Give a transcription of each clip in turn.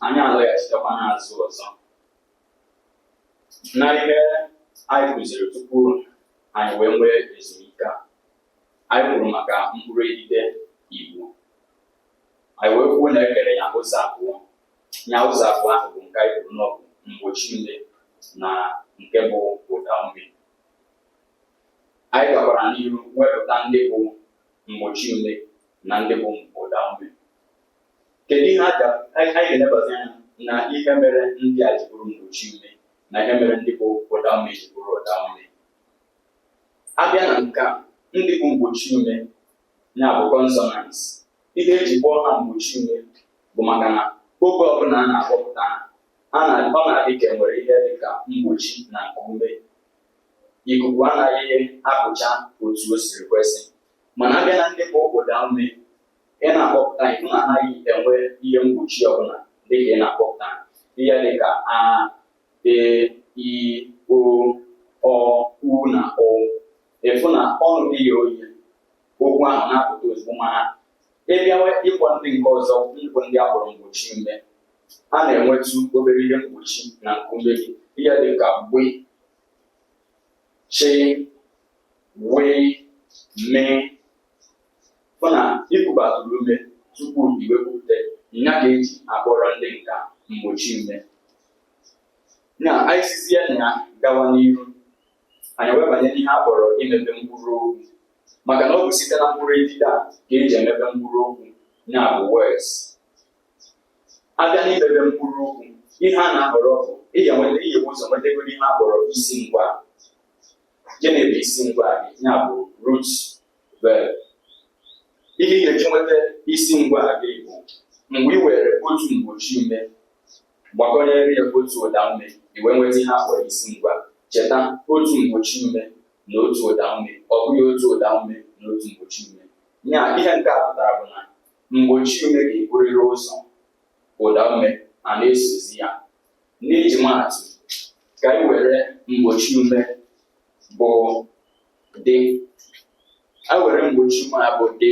anyị alọghachitekwa n'azụ ọzọ na ihe anyị kụziri tupu anyị wee nwee ezumike a anyị kwuru maka mkpụrụ edide Igbo anyị wee kwuo na ekere ya ụzọ abụọ ya ụzọ abụọ ahụ bụ nke anyị kwuru n'ọ bụ mgbochi ume na nke bụ ụda ume anyị gakwara n'ihu wepụta ndị bụ mgbochi ume na ndị bụ ụda ume Kedu ihe a ga- anyị anyị ga-elebazi anya na ihe mere ndị a ji bụrụ mgbochi ume na ihe mere ndị bụ ụda ume ji bụrụ ụda ume? Abịa na nke a, ndị bụ mgbochi ume ya bụ consonants. Ihe eji kpọọ ha mgbochi ume bụ maka na oge ọbụla a na-akpọpụta ha, a na ọ na-adị ka enwere ihe dị ka mgbochi na nkuume. Ikuku anaghị apụcha otu o siri kwesị. Mana abịa na ndị bụ ụda ume, ị na-akpọpụta ị fụ na anaghị enwe ihe mgbochi ọbụla dịka ị na-akpọpụta ihe dịka a e i o ọ u na ụ ị fụ na ọnụ gị ye oye okwu ahụ na-apụta ozugbo mana ịbịawa ịkpọ ndị nke ọzọ bụ ndị akpọrọ mgbochi ume a na-enwetụ obere ihe mgbochi na nkuume gị ihe dịka gbe chi wee mee fụ na ikubatụrụ ume tupu i wee kwupụta nya ka eji akpọrọ ndị nka mgbochi ume na anyị sizie na ya gawa n'ihu anyị wee banye n'ihe a kpọrọ imebe mkpụrụ okwu maka na ọ bụ site na mkpụrụ edide a ka eji emebe mkpụrụ okwu ya bụ words abịa n'imebe mkpụrụ okwu ihe a na-ahọrọ bụ ị ya-enweta ị ya-ebu ụzọ nwetagoro ihe a kpọrọ isi ngwa gịnị bụ isi ngwa gị ya bụ root ihe ị ga-eji nweta isi ngwa gị bụ mgbe i were otu mgbochi ume gbakọnyere ya otu ụda ume i wee nweta ihe akpọrọ isi ngwa cheta otu mgbochi ume na otu ụda ume ọ bụghị otu ụda ume na otu mgbochi ume ya ihe nke a pụtara bụ na mgbochi ume ga-eburịrị ụzọ ụda ume a na-esozi ya n'iji maatụ ka anyị were mgbochi ume bụ dị e were mgbochi ume a bụ dị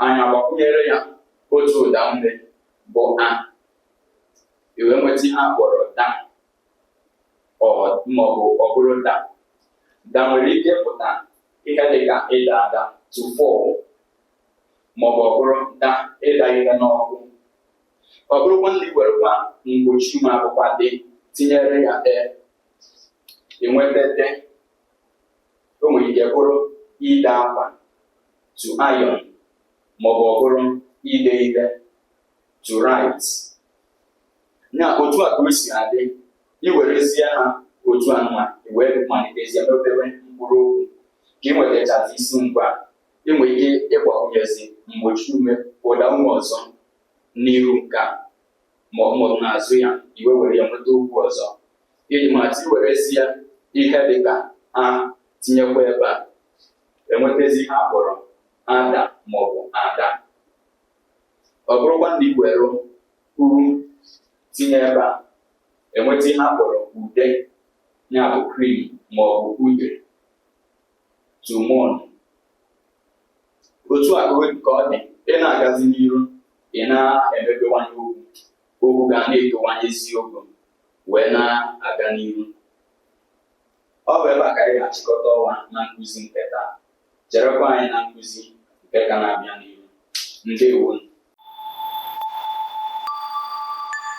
anyị agbakwunyere ya otu ụda ume bụ a i wee nweta ihe a kpọrọ da maọbụ ọ bụrụ da da nwere ike ịpụta ihe dị ka ịda ada to fall maọbụ ọ bụrụ da ịda ihe n'ọkụ ọ bụrụkwa na i werekwa mgbochi ume a bụkwa dị tinyere ya ee enweta de o nwere ike bụrụ ide akwa to iron maọbụ ọ bụrụ ide ihe to write na otu a ka o si adị iwerezie ha otu a nwa wee malitezie n'obere mkpụrụ okwu ka ị nwetachazi isi ngwa ị nwere ike ịgbakwunyezi mgbochi ume ụda ume ọzọ n'iru nke a maọbụ n'azụ ya i wee were ya nweta okwu ọzọ iji maatụ iwerezie ihe dị ka a tinyekwa ebe a enwetazi ihe a kpọrọ ada maọbụ ada ọ bụrụkwa na iwere u tinye ebe a enweta ihe a kpọrọ ude ya bụ cream maọbụ ude to mourn otu a ka ọ dị ị na-agazi n'iru ị na-emepewanye okwu okwu ga na-etowanye isiokwu wee na-aga n'iru ọ bụ ebe a ka anyị ga-achịkọta ọwa na nkụzi nke taa cherekwa anyị na nkụzi nke ka na-abịa n'iru ndewo